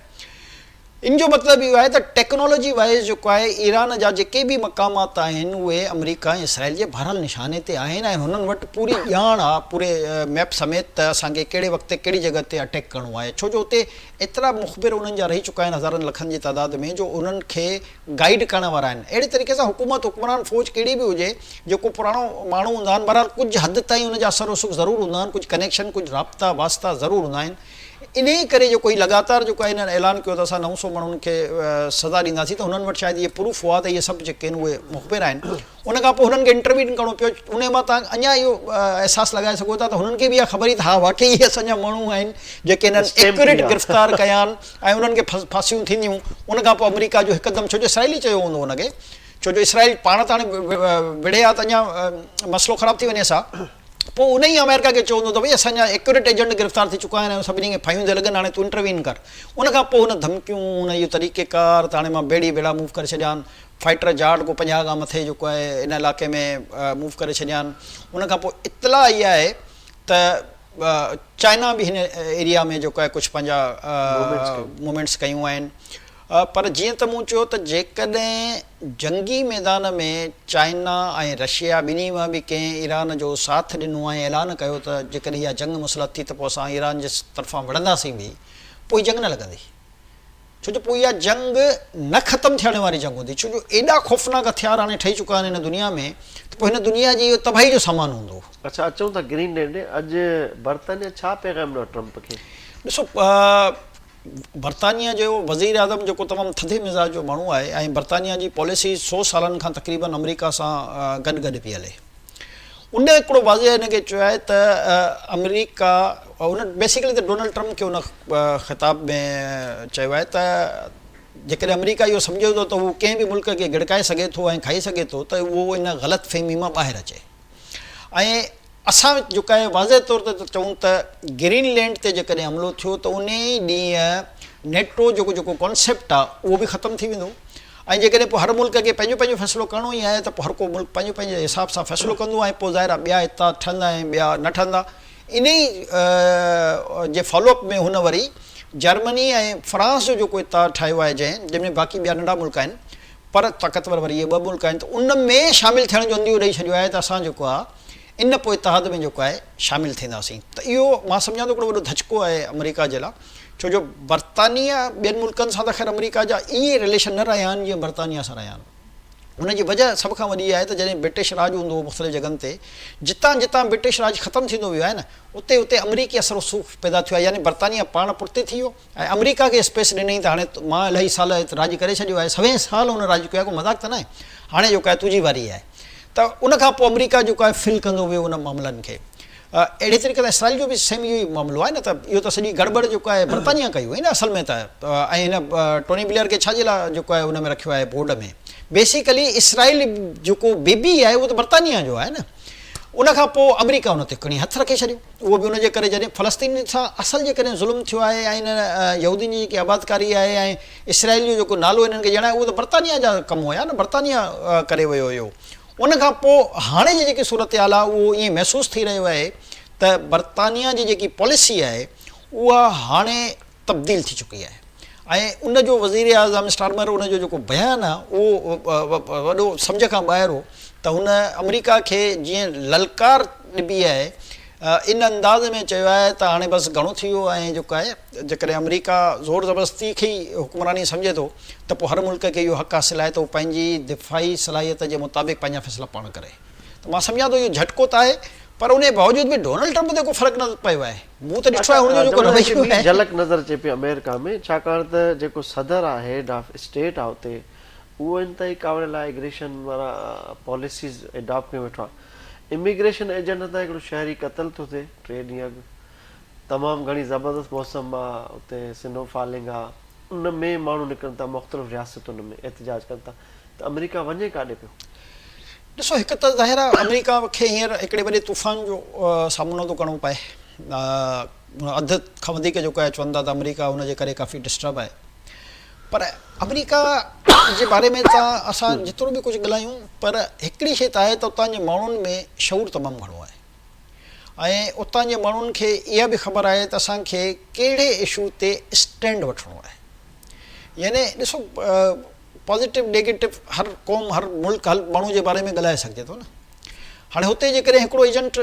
ان جو مطلب اهو آهي ته ٽيڪنالاجي وائيز جيڪو آهي ايران جا جيڪي به مقامات آهن اهي آمريڪا ۽ اسرائيل جي ڀريل نشاني تي آهن ۽ هنن وٽ پوري ڄاڻ آ پوري ميپ سميت ته اسان کي ڪهڙي وقت تي ڪهڙي جڳهه تي اٽيڪ ڪرڻو آهي ڇو جو اتي ايترا مخبر انهن جا رهي چڪا آهن هزارن لکن جي تعداد ۾ جو انهن کي گائيڊ ڪرڻ وارا آهن اهڙي طريقي سان حڪومت حڪمران فوج ڪهڙي به هجي جيڪو پراڻو ماڻهو هوندا آهن بهرحال ڪجهه حد تائين ان جا اثر رسوخ ضرور هوندا آهن ڪجهه ڪنيڪشن ڪجهه رابطا واسطا ضرور هوندا آهن انهيء ڪري جيڪو هي لڳاتار جيڪو آهي انهن اعلان ڪيو ته اسان نو سؤ ماڻهن کي سزا ڏينداسين ته هنن وٽ شايد اهي پروف هئا ته اهي سڀ جيڪي آهن اهي مخبر آهن ان کان پوء هنن کي انٽروين ڪرڻو پيو انهيء مان توهان اڃا اهو احساس لڳائي سگهو ٿا ته هنن کي به اها خبر هئي ته ها واقعي اهي اسان جا ماڻهو آهن جيڪي هنن ايڪيوريٽ گرفتار ڪيا آهن ۽ انهن کي ڦاسيون ٿينديون ان کان پوء آمريڪا جو هڪدم ڇو جو اسرائيل ئي چيو هوندو ان کي ڇو جو اسرائيل پاڻ ته هاڻي وڙهي ها ته اڃا مسئلو خراب ٿي وڃيس ها. پوء انهيء آمريڪا کي چوندو ته ڀئي اسان جا ايڪوريٽ ايجنٽ گرفتار ٿي چڪا آهن ۽ سڀني کي ڦاهيون ٿي لڳن هاڻي تون انٽروين ڪر ان کان پوء هن ڌمڪيون هن اهو طريقي ڪار ته هاڻي مان ڀيڙي ڀيڙا موو ڪري ڇڏيان فائيٽر جاٽ ڪو پنجاهه کان مٿي جيڪو آهي ان علائقي ۾ موو ڪري ڇڏيان ان کان پوء اطلاع آئي آهي ته چائنا به هن ايريا ۾ جيڪو آهي ڪجهه پنهنجا موومينٽس ڪيون آهن پر جيئن ته مون چيو ته جيڪڏهن جنگي ميدان ۾ چائنا ۽ رشيا ٻنهي مان به ڪنهن ايران جو ساٿ ڏنو ۽ اعلان ڪيو ته جيڪڏهن اها جنگ مسلط ٿي ته پوء اسان ايران جي طرفان وڙهنداسين به پوء هي جنگ نه لڳندي ڇو جو پوء اها جنگ نه ختم ٿيڻ واري جنگ هوندي ڇو جو ايڏا خوفناڪ هٿيار هاڻي ٺهي چڪا آهن هن دنيا ۾ ته پوء هن دنيا جي اهو تباهي جو سامان هوندو. اڇا اچون ٿا گرين لينڊ ڏي اڄ برطانيا ڇا پيغام ڏنو آهي ٽرمپ کي؟ ڏسو. برطانيا جو وزيراعظم جيڪو تمام ٿڌي مزاج جو ماڻهو آهي ۽ برطانيا جي پاليسي سو سالن کان تقريبن آمريڪا سان گڏ گڏ پئي هلي ان هڪڙو واضح هن کي چيو آهي ته آمريڪا ان بيسيڪلي ته ڊونلڊ ٽرمپ کي ان خطاب ۾ چيو آهي ته جيڪڏهن آمريڪا اهو سمجهي ٿو ته هو ڪنهن به ملڪ کي گڙڪائي سگهي ٿو ۽ کائي سگهي ٿو ته اهو ان غلط فهمي مان ٻاهر اچي ۽ اسان جيڪا هي واضح طور تي ٿا چئون ته گرين لينڊ تي جيڪڏهن حملو ٿيو ته ان ئي ڏينهن نيٽو جو جيڪو ڪانسيپٽ آهي اهو به ختم ٿي ويندو ۽ جيڪڏهن پوء هر ملڪ کي پنهنجو پنهنجو فيصلو ڪرڻو ئي آهي ته پوء هر ڪو ملڪ پنهنجو پنهنجي حساب سان فيصلو ڪندو ۽ پوء ظاهر آهي ٻيا اتحاد ٺهندا ۽ ٻيا نه ٺهندا ان ئي جي فالو اپ ۾ هن وري جرمني ۽ فرانس جو جيڪو اتحاد ٺاهيو آهي جنهن جنهن ۾ باقي ٻيا ننڍا ملڪ آهن پر طاقتور وري اهي ٻه ملڪ آهن ته ان ۾ شامل ٿيڻ جو عنديو ڏئي ڇڏيو آهي ته اسان جيڪو آهي ان پوء اتحاد ۾ جيڪو آهي شامل ٿينداسين ته اهو مان سمجهان ٿو هڪڙو وڏو ڌچڪو آهي آمريڪا جي لاء ڇو جو برطانيه ٻين ملڪن سان ته خير آمريڪا جا ائين رليشن نه رهيا آهن جيئن برطانيه سان رهيا آهن ان جي وجهه سڀ کان وڏي آهي ته جڏهن برٽش راڄ هوندو هو مختلف جڳهن تي جتان جتان برٽش راڄ ختم ٿيندو ويو آهي نه اتي اتي آمريڪي اثر رسوخ پيدا ٿيو آهي يعني برطانيه پاڻ پٺتي ٿي ويو ۽ آمريڪا کي اسپيس ڏنئين ته هاڻي مان الائي سال راڄ ڪري ڇڏيو آهي سوين سال هن راڄ ڪيو آهي ڪو مذاق ته ناهي هاڻي جيڪو آهي تنهنجي واري آهي ته ان کان پوء آمريڪا جيڪو آهي فل ڪندو ويو ان معاملن کي اهڙي طريقي سان اسرائيل جو به سيم اهو ئي معاملو آهي نه ته اهو ته سڄي گڙٻڙ جيڪو آهي برطانيا ڪئي هئي نه اصل ۾ ته ۽ هن ٽوني بليئر کي ڇا جي لاء جيڪو آهي ان ۾ رکيو آهي بورڊ ۾ بيسيڪلي اسرائيل جيڪو بيبي آهي اهو ته برطانيا جو آهي نه ان کان پوء آمريڪا ان تي کڻي هٿ رکي ڇڏيو اهو به ان جي ڪري جڏهن فلسطينين سان اصل جي ڪڏهن ظلم ٿيو آهي ۽ انهن يهودين جي جيڪي آبادڪاري آهي ۽ اسرائيل جو جيڪو نالو انهن کي ڄاڻايو اهو ته برطانيا جا ڪم هيا نه برطانيا ڪري ويو هيو ان کان پوء هاڻي جي جيڪي صورتحال آهي اهو ائين محسوس ٿي رهيو آهي ته برطانيا جي جيڪي پاليسي آهي اها هاڻي تبديل ٿي چڪي آهي ۽ ان جو وزيراعظم اسٽارمر ان جو جيڪو بيان آهي اهو وڏو سمجهه کان ٻاهر هو ته هن آمريڪا کي جيئن للڪار ڏبي آهي ان انداز ۾ چيو آهي ته هاڻي بس گهڻو ٿي ويو ۽ جيڪو آهي جيڪڏهن آمريڪا زور زبردستي کي ئي حڪمراني سمجهي ٿو ته پوء هر ملڪ کي اهو حق حاصل آهي ته هو پنهنجي دفاعي صلاحيت جي مطابق پنهنجا فيصلا پاڻ ڪري ته مان سمجهان ٿو اهو جهٽڪو ته آهي پر انهي باوجود به ڊونلڊ ٽرمپ تي ڪو فرق نه پيو آهي. مون ته ڏٺو آهي هن جون جيڪو جمهوريت جي رويو ٻي آهي. جهلڪ نظر اچي پئي آمريڪا ۾ ڇاڪاڻ ته جيڪو صدر آهي هيڊ آف اسٽيٽ آهي اتي اهو انتهائي ڪاوڙيل آهي اگريشن وارا پاليسيز اڊاپٽ ڪيون ويٺو آهي اميگريشن ايجنٽ هتان هڪڙو شهري قتل ٿو ٿئي ٽي ڏينهن اڳ تمام گهڻي زبردست موسم آهي اتي سنو فالنگ آهي ان ۾ ماڻهو نڪرن ٿا مختلف رياستن ۾ احتجاج ڪن ٿا ته آمريڪا وڃي ڪاڏي پيو؟ ڏسو هڪ ته ظاهر آهي آمريڪا کي هينئر هڪڙي وڏي طوفان جو سامنو ٿو ڪرڻو پئي اڌ کان وڌيڪ جيڪو آهي چون ٿا ته آمريڪا ان جي ڪري ڪافي ڊسٽرب آهي پر آمريڪا جي باري ۾ ته اسان جيترو به ڪجهه ڳلايون پر هڪڙي شي ته آهي ته اتان جي ماڻهن ۾ شعور تمام گهڻو آهي ۽ اتان جي ماڻهن کي اها به خبر آهي ته اسان کي ڪهڙي اشو تي اسٽينڊ وٺڻو آهي يعني ڏسو پازيٽو نيگيٽو هر قوم هر ملڪ هر ماڻهو جي باري ۾ ڳالهائي سگهجي ٿو نه هاڻي هتي جيڪڏهن هڪڙو ايجنٽ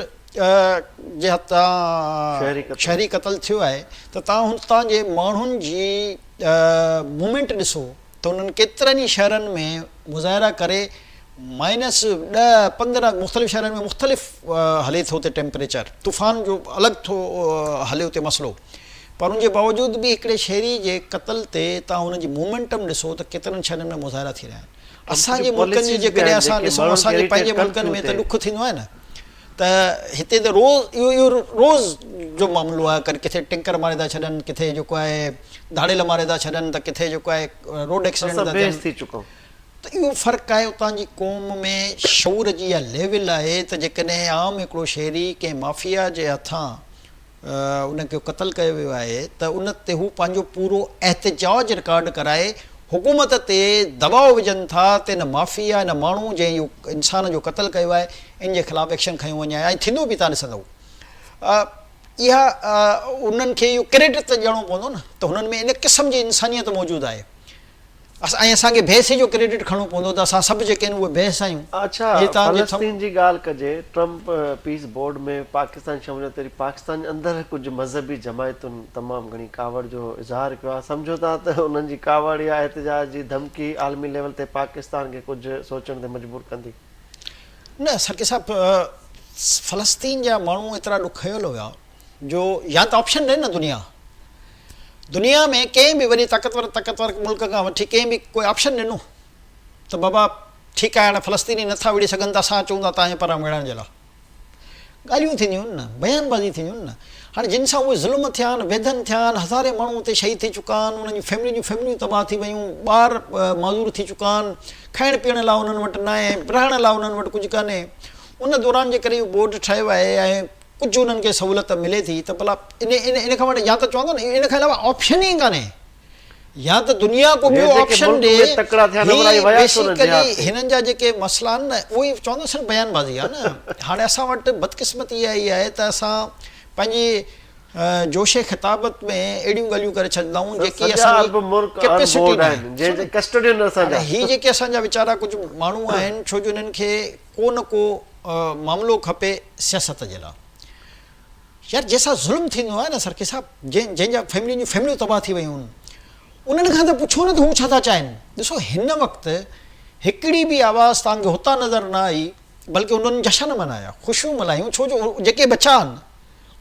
جي هٿان شهري قتل ٿيو آهي ته توهان هتان جي ماڻهن جي مومينٽ ڏسو ته انهن ڪيترن ئي شهرن ۾ مظاهرا ڪري مائنس ڏهه پندرهن مختلف شهرن ۾ مختلف هلي ٿو اتي ٽيمپريچر طوفان جو الڳ ٿو هلي اتي مسئلو پر ان جي باوجود به هڪڙي شهري جي قتل تي توهان ان جي مومينٽم ڏسو ته ڪيترن شهرن ۾ مظاهرا ٿي رهيا آهن اسان جي ملڪن جي جيڪڏهن اسان ڏسون اسان جي پنهنجي ملڪن ۾ ته ڏک ٿيندو آهي نه ته هتي ته روز اهو اهو روز جو معاملو آهي ڪڏهن ڪٿي ٽينڪر ماري ٿا ڇڏن ڪٿي جيڪو آهي ڌاڙيل ماري ٿا ڇڏن ته ڪٿي جيڪو آهي روڊ ايڪسيڊنٽ ٿا ٿين ته اهو فرق آهي اتان جي قوم ۾ شعور جي اها ليول آهي ته جيڪڏهن عام هڪڙو شهري ڪنهن مافيا جي هٿان ان کي قتل ڪيو ويو آهي ته ان تي هو پنهنجو پورو احتجاج رڪارڊ ڪرائي حڪومت تي دٻاء وجهن ٿا ته ان مافيا، ان ماڻهو جنهن اهو انسان جو قتل ڪيو آهي ان جي خلاف ايڪشن کنيو وڃي ۽ ٿيندو به ته ڏسندو اها انهن کي اهو ڪريڊٽ ته ڏيڻو پوندو نه ته هنن ۾ ان قسم جي انسانيت موجود آهي. ۽ اسان کي بحثي جو ڪريڊٽ کڻڻو پوندو ته اسان سڀ جيڪي آهيون اهي بحث آهيون. اڇا فلسطين جي ڳالهه ڪجي، ٽرمپ پيس بورڊ ۾ پاڪستان جي شموليت تي پاڪستان جي اندر ڪجهه مذهبي جماعتن تمام گهڻي ڪاوڙ جو اظهار ڪيو آهي، سمجهو ٿا ته انهن جي ڪاوڙ يا احتجاج جي ڌمڪي عالمي ليول تي پاڪستان کي ڪجهه سوچڻ تي مجبور ڪندي؟ نه سرڪي صاحب فلسطين جا ماڻهو ايترا ڏکيل هيا جو يا ته آپشن ڏين نه دنيا. دنيا ۾ ڪنهن به وڏي طاقتور طاقتور ملڪ کان وٺي ڪنهن به ڪو آپشن ڏنو ته بابا ٺيڪ آهي هاڻي فلسطيني نه ٿا وڙهي سگهن ته اسان اچون ٿا تهانجي پران وڙهڻ جي لاء ڳالهيون ٿينديون آهن نه بيان بازي ٿينديون آهن نه هاڻي جن سان اهي ظلم ٿيا آهن ويڌن ٿيا آهن هزارين ماڻهو اتي شهيد ٿي چڪا آهن انهن جون فيملين جون فيمليون تباهه ٿي ويون ٻار معذور ٿي چڪا آهن کائڻ پيئڻ لاء انهن وٽ ناهي رهڻ لاء انهن وٽ ڪجهه ڪانهي ان دوران جي ڪري اهو بورڊ ٺاهيو آهي ۽ ڪجهه انهن کي سهولت ملي ٿي ته ڀلا ان ان کان وٽ يا ته چوندو نه ان کان علاوه آپشن ئي ڪانهي يا ته دنيا ڪو ٻيو آپشن ڏي هي بيسيڪلي هنن جا جيڪي مسئلا آهن نه اهي چوندو نه صرف بيان بازي آهي نه هاڻي اسان وٽ بدقسمتي اها ئي آهي ته اسان پنهنجي جوش خطابت ۾ اهڙيون ڳالهيون ڪري ڇڏيندائون جيڪي اسان جي ڪيپيسٽي ناهي جنهن جي ڪسٽوڊين اسان جا هي جيڪي اسان جا ويچارا ڪجهه ماڻهو آهن ڇو جو انهن کي ڪو نه ڪو معاملو کپي سياست جي لا. يار جنهن سان ظلم ٿيندو آهي نه سرڪي صاحب جنهن جا فيملين جون فيمليون تباهه ٿي ويون آهن انهن کان ته پڇو نه ته هو ڇا ٿا چاهين ڏسو هن وقت هڪڙي به آواز توهان کي هتان نظر نه آئي بلڪه انهن جشن منايا خوشيون ملهايون ڇو جو جيڪي بچا آهن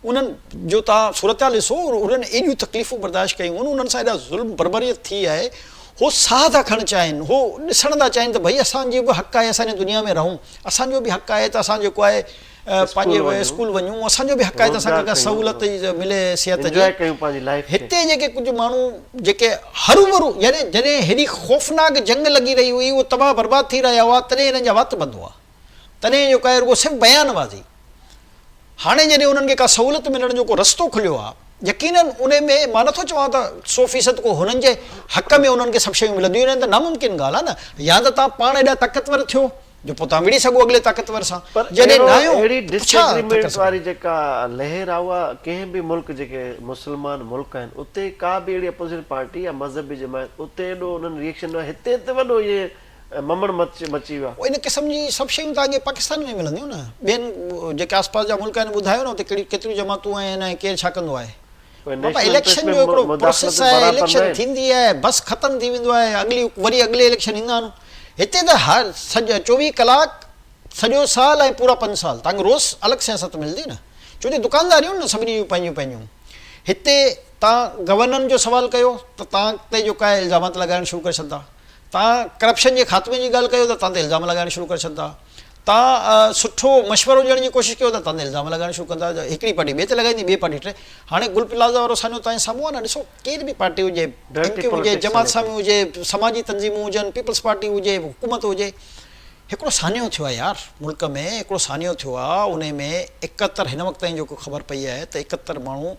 انهن جو توهان صورتحال ڏسو، انهن ايڏيون تڪليفون برداشت ڪيون آهن، انهن سان ايڏا ظلم بربريت ٿي آهي، هو ساهه ٿا کڻڻ چاهين، هو ڏسڻ ٿا چاهين ته ڀئي اسان جو به حق آهي اسان هن دنيا ۾ رهون، اسان جو به حق آهي ته اسان جيڪو آهي پنهنجي اسڪول وڃون، اسان جو به حق آهي ته اسان کي ڪا سهولت ملي صحت جي، هتي جيڪي ڪجهه ماڻهو جيڪي هروڀرو يعني جڏهن هيڏي خوفناڪ جنگ لڳي رهي هئي، هو تباهه برباد ٿي رهيا هئا، تڏهن هنن جا وات بند هئا، تڏهن جيڪو آهي رڳو صرف بيان بازي. هاڻي جڏهن انهن کي ڪا سهولت ملڻ جو ڪو رستو کليو آهي، يقينن انهي ۾ مان نٿو چوان ته سو فيصد ڪو هنن جي حق ۾ انهن کي سڀ شيون ملنديون نه ته ناممڪن ڳالهه آهي نه يا ته توهان پاڻ ايڏا طاقتور ٿيو جو پوء توهان وڙهي سگهو اڳلي طاقتور سان پر جڏهن اهڙو ناهيو اهڙي ته ڊس ڇا ٿا ڪري ايگريمينٽ سگهو. واري جيڪا لهر آهي اها ڪنهن به ملڪ جيڪي مسلمان ملڪ آهن اتي ڪا به اهڙي اپوزيشن پارٽي يا مذهبي جماعت اتي ايڏو انهن ريئڪشن نه هتي ته وڏو ايئن ۽ ممڻ مچي ويا. ان قسم جي سڀ شيون ته اڳي پاڪستان ۾ ملنديون نه ٻين جيڪي آس پاس جا ملڪ آهن ٻڌايو نه اتي ڪهڙيون ڪيتريون جماعتون آهن ۽ ڪير ڇا ڪندو آهي. بابا اليڪشن جو هڪڙو پروسيس آهي اليڪشن ٿيندي آهي بس ختم ٿي ويندو آهي اڳلي وري اڳلي اليڪشن ايندا آهن هتي ته هر چوويهه ڪلاڪ سڄو سال ۽ پورا پنج سال تانکي روز الڳ سياست ملندي نه چونجو دڪانداريون نه سڀني جون پنهنجيون پنهنجيون هتي توهان گورنرن جو سوال ڪيو ته توهان تي جو ڪاهي الزامات لڳائڻ شروع ڪري ڇڏندا. توهان ڪرپشن جي خاتمي جي ڳالهه ڪيو ته توهان تي الزام لڳائڻ شروع ڪري ڇڏندا. توهان سٺو مشورو ڏيڻ جي ڪوشش ڪيو ته توهان تي الزام لڳائڻ شروع ڪندا. هڪڙي پارٽي ٻئي تي لڳائيندي، ٻئي پارٽي ٽئين. هاڻي گل پلازا وارو سانحو توهان جي سامهون آهي نه. ڏسو ڪير به پارٽي هجي، ايم ڪيو هجي، جماعت اسلامي هجي، سماجي تنظيمون هجن، پيپلز پارٽي هجي، حڪومت هجي، هڪڙو سانحو ٿيو آهي يار. ملڪ ۾ هڪڙو سانحو ٿيو آهي، انهي ۾ اڪهتر هن وقت تائين جيڪو خبر پئي آهي ته اڪهتر ماڻهو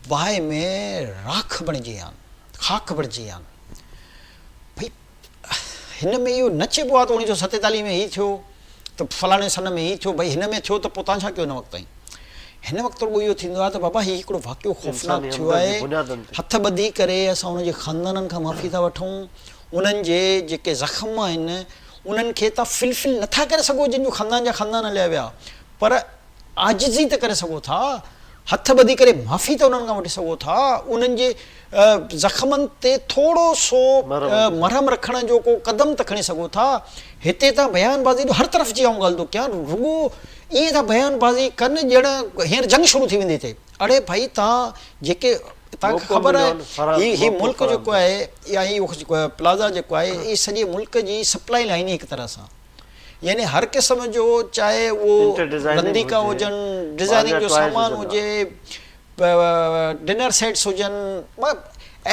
باهه ۾ راک بڻجي آن، خاڪ بڻجي آن. ڀئي هن ۾ اهو نه چئبو آهي ته اڻيهه سو ستيتاليهه ۾ هي ٿيو ته فلاڻي سن ۾ هي ٿيو، ڀئي هن ۾ ٿيو ته پوء توهان ڇا ڪيو هن وقت تائين؟ هن وقت رڳو اهو ٿيندو آهي ته بابا هي هڪڙو واقعو خوفناڪ ٿيو آهي، هٿ ٻڌي ڪري اسان انهن جي خاندانن کان معافي ٿا وٺون، انهن جي جيڪي زخم آهن انهن کي تان فلفل نه ٿا ڪري سگهو جن جو خاندان جا خاندان هليا ويا پر عاجزي ته ڪري سگهو ٿا، هٿ ٻڌي ڪري معافي ته انهن کان وٺي سگهو ٿا، انهن جي زخمن تي ٿورو سو مرهم رکڻ جو ڪو قدم ته کڻي سگهو ٿا. هتي تان بيان بازي جو هر طرف جي آئون ڳالهه ٿو ڪيان، رڳو ائين ٿا بيان بازي ڪن ڄڻ هينئر جنگ شروع ٿي ويندي هتي. اڙي ڀائي تان جيڪي تان کي خبر آهي هي هي ملڪ جيڪو آهي يا هي پلازا جيڪو آهي هي سڄي ملڪ جي سپلائي لائين هڪ طرح سان. يعني هر قسم جو چاهي اهو رنديڪا هجن، ڊزائننگ جو سامان هجي، ڊنر سيٽس هجن،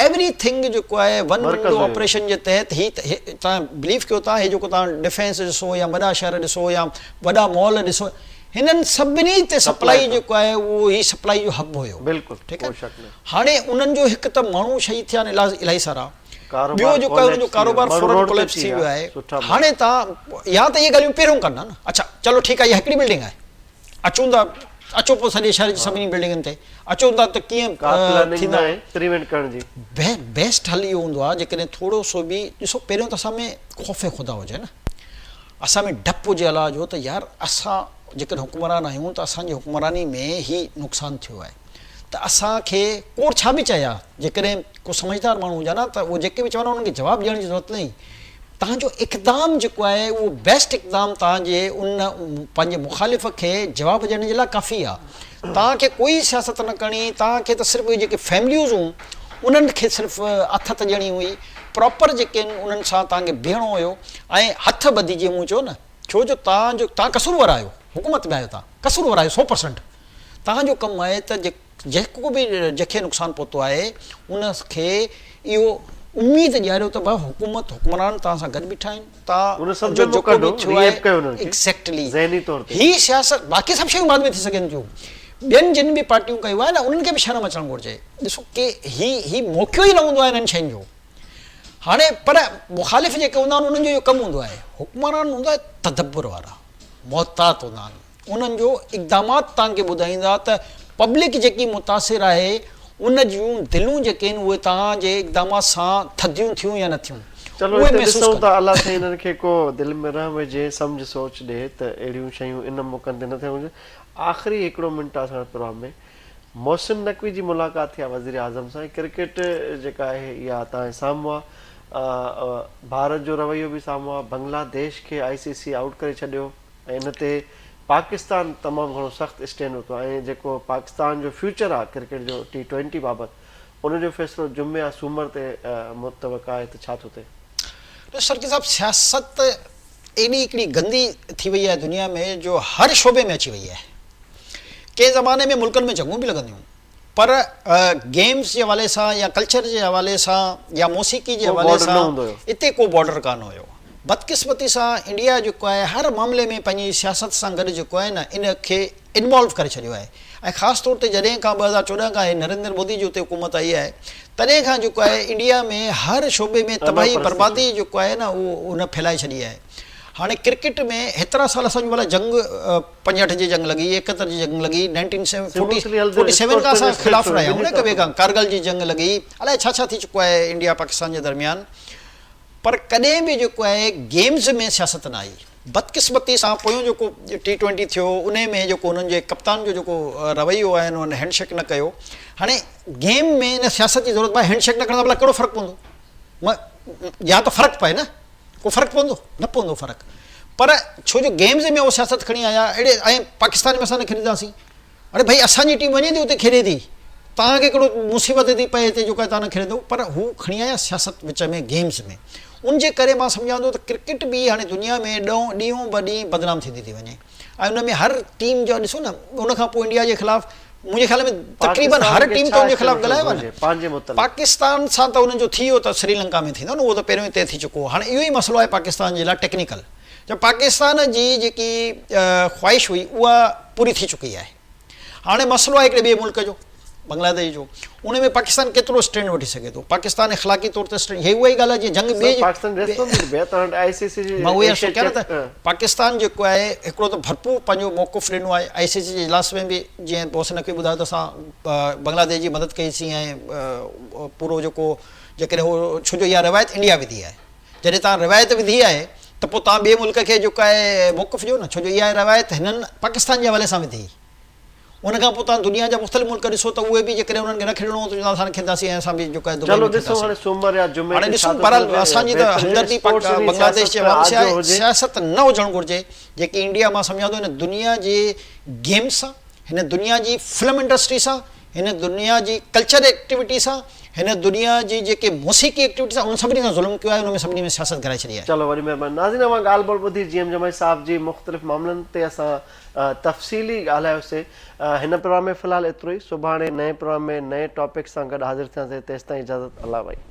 ايوري ٿنگ جيڪو آهي ون ونڊو آپريشن جي تحت هي توهان بليف ڪيو ٿا هي جيڪو توهان ڊفينس ڏسو يا وڏا شهر ڏسو يا وڏا مال ڏسو هنن سڀني تي سپلائي جيڪو آهي اهو هي سپلائي جو هب هيو ٺيڪ آهي هاڻي انهن جو هڪ ته ماڻهو شهيد ٿيا آهن الاهي سارا. ٻيو جو ڪيو جو ڪاروبار فورن ڪوليپس ٿي ويو آهي هاڻي تان يا ته اهي ڳالهيون پهريون ڪن ها نه اڇا چلو ٺيڪ آهي اها هڪڙي بلڊنگ آهي اچون ٿا اچو پوء سڄي شهر جي سڀني بلڊنگن تي اچون ٿا ته ڪيئن ٿيندا پريونٽ ڪرڻ جي بيسٽ حل اهو هوندو آهي جيڪڏهن ٿورو سو به ڏسو پهريون ته اسان ۾ خوف خدا هجي نه اسان ۾ ڊپ هجي الله جو ته يار اسان جيڪڏهن حڪمران آهيون ته اسان جي حڪمراني ۾ هي نقصان ٿيو آهي ته اسان کي ڪور ڇا به چئي ها جيڪڏهن ڪو سمجهدار ماڻهو هجان ها ته اهو جيڪي به چون ها انهن کي جواب ڏيڻ جي ضرورت ناهي. توهان جو اقدام جيڪو آهي اهو بيسٽ اقدام توهان جي ان پنهنجي مخالف کي جواب ڏيڻ جي لاء ڪافي آهي. توهان کي ڪوئي سياست نه ڪرڻي، توهان کي ته صرف اهي جيڪي فيمليوز هون انهن کي صرف اٿت ڏيڻي هئي، پراپر جيڪي آهن انهن سان توهان کي بيهڻو هيو ۽ هٿ ٻڌي جيئن مون چيو نه. ڇو جو توهان جو توهان قصور ور آهيو، حڪومت ۾ آهيو توهان قصور ور آهيو سو پرسنٽ توهان جو ڪم آهي ته جي. جيڪو به جيڪي نقصان پهتو آهي ان کي اهو اميد ڏياريو ته ڀلا حڪومت حڪمران توهان سان گڏ بيٺا آهن توهان جو جيڪو به ٿيو آهي ايگزيڪٽلي هي سياست باقي سڀ شيون بعد ۾ ٿي سگهن ٿيون ٻين جن به پارٽيون ڪيو آهي نه انهن کي به شرم اچڻ گهرجي ڏسو ڪي هي هي موقعو ئي نه هوندو آهي انهن شين جو هاڻي پر مخالف جيڪي هوندا آهن انهن جو اهو ڪم هوندو آهي حڪمران هوندا تدبر وارا محتاط هوندا آهن. انهن جو اقدامات توهان کي ٻڌائيندا ته پبلڪ جيڪي متاثر آهي ان جون دلون جيڪي آهن اهي توهان جي اقدامات سان ٿڌيون ٿيون يا نه ٿيون چلو اهي اتي محسوس ڏسون ٿا ڪندا. الله سائين انهن کي ڪو دل ۾ رحم وجهي سمجهه سوچ ڏي ته اهڙيون شيون ان موقعن تي نه ٿيڻ گهرجن آخري هڪڙو منٽ آهي اسان وٽ پروگرام ۾ محسن نقوي جي ملاقات ٿي آهي وزيراعظم سان ۽ ڪرڪيٽ جيڪا آهي اها توهان جي سامهون آهي ڀارت جو رويو به سامهون آهي بنگلاديش کي آء سي سي آئوٽ ڪري ڇڏيو ۽ ان تي پاڪستان تمام گهڻو سخت اسٽينڊ ورتو آهي ۽ جيڪو پاڪستان جو فيوچر آهي ڪرڪيٽ جو ٽي ٽوئنٽي بابت ان جو فيصلو جمعي يا سومر تي متوقع آهي ته ڇا ٿو ٿئي؟ ڏسو شرڪي صاحب سياست ايڏي هڪڙي گندي ٿي وئي آهي دنيا ۾ جو هر شعبي ۾ اچي وئي آهي ڪنهن زماني ۾ ملڪن ۾ جنگون به لڳنديون هيون. پر گيمز جي حوالي سان يا ڪلچر جي حوالي سان يا موسيقي جي حوالي سان اتي ڪو بارڊر ڪانه هيو. بدقسمتي سان انڊيا جيڪو آهي هر معاملي ۾ پنهنجي سياست سان گڏ جيڪو آهي نه ان کي انوالو ڪري ڇڏيو آهي ۽ خاص طور تي جڏهن کان ٻه هزار چوڏهن کان هي نريندر مودي جي اتي حڪومت آئي آهي تڏهن کان جيڪو آهي انڊيا ۾ هر شعبي ۾ تباهي بربادي جيڪو آهي نه اهو ان ڦهلائي ڇڏي آهي هاڻي ڪرڪيٽ ۾ هيترا سال اسان جون ڀلا جنگ پنجهٺ جي جنگ لڳي، ايڪهتر جي جنگ لڳي، nineteen seven forty forty seven کان اسان خلاف رهيا آهيون نه هڪ ٻئي کان، ڪارگل جي جنگ لڳي، الائي ڇا ڇا ٿي چڪو آهي انڊيا پاڪستان جي درميان، پر ڪڏهن به جيڪو آهي گيمز ۾ سياست نه آئي، بدقسمتي سان پويون جيڪو ٽي ٽوئنٽي ٿيو انهي ۾ جيڪو انهن جي ڪپتان جو جيڪو رويو آهي انهن هينڊ شيڪ نه ڪيو، هاڻي گيم ۾ ان سياست جي ضرورت باهي هينڊ شيڪ نه ڪرڻ سان ڀلا ڪهڙو فرق پوندو؟ م يا ته فرق پئي نه ڪو فرق پوندو نه پوندو فرق پر ڇو جو گيمز ۾ اهو سياست کڻي آيا اهڙي ائين پاڪستان ۾ اسان نه کيڏنداسين اڙي ڀئي اسان جي ٽيم وڃي ٿي اتي کيڏي ٿي توهان کي ڪهڙو مصيبت ٿي پئي هتي جو ڪا تان نه کيڏندو پر هو کڻي آيا سياست وچ ۾ گيمز ۾ ان جي ڪري مان سمجهان ٿو ته ڪرڪيٽ به هاڻي دنيا ۾ ڏون ڏينهون به ڏينهن بدنام ٿيندي ٿي وڃي ۽ ان ۾ هر ٽيم جا ڏسو نه ان کان پوء انڊيا جي خلاف منهنجي خيال ۾ تقريبن هر ٽيم ته ان جي خلاف ڳالهايو آهي نه پاڪستان سان ته انهن جو ٿي ويو ته سريلنڪا ۾ ٿيندو نه اهو ته پهريون ئي طئي ٿي چڪو هو هاڻي اهو ئي مسئلو آهي پاڪستان جي لاء ٽيڪنيڪل جو پاڪستان جي جيڪي خواهش هئي اها پوري ٿي چڪي آهي. هاڻي مسئلو آهي هڪڙي ٻئي ملڪ جو، بنگلاديش جو، ان ۾ پاڪستان ڪيترو اسٽينڊ وٺي سگهي ٿو، پاڪستان اخلاقي طور تي اسٽينڊ، هي اها ئي ڳالهه آهي جيئن جنگ ٻي پاڪستان جيڪو آهي هڪڙو ته ڀرپور پنهنجو موقف ڏنو آهي، آء سي سي جي اجلاس ۾ به جيئن بوس نقوي ٻڌايو ته اسان بنگلاديش جي مدد ڪئي سين ۽ پورو جيڪو جيڪڏهن هو ڇو جو اها روايت انڊيا وڌي آهي. جڏهن توهان روايت وڌي آهي ته پوء توهان ٻئي ملڪ کي جيڪو آهي موقف ڏيو نه ڇو جو اها روايت هنن پاڪستان جي حوالي سان وڌي ان کان پوء توهان دنيا جا مختلف ملڪ ڏسو ته اهي به جيڪڏهن انهن کي نه کيڏڻو هو ته چوندو اسان کيڏنداسين ۽ اسان به جيڪو آهي دبئي ۾ کيڏنداسين هاڻي ڏسون بهرحال اسان جي ته همدردي بنگلاديش جي عوام سان آهي سياست نه هجڻ گهرجي جيڪي انڊيا مان سمجهان ٿو هن دنيا جي گيم سان هن دنيا جي فلم انڊسٽري سان هن دنيا جي ڪلچر ايڪٽيوٽي سان هن دنيا جي جيڪي موسيقي ايڪٽيوٽي سان انهن سڀني سان ظلم ڪيو آهي انهن ۾ سڀني ۾ سياست گهرائي ڇڏي آهي. چلو وڏي مهرباني ناظرين اوهان ڳالهه ٻولهه ٻڌي جي ايم جمعي صاحب جي مختلف معاملن تي اسان تفصيلي ڳالهايو سي هن پروگرام ۾ في الحال ايترو ئي سڀاڻي نئين پروگرام ۾ نئين ٽاپڪ سان گڏ حاضر ٿيان سي تيستائين اجازت الله وعي.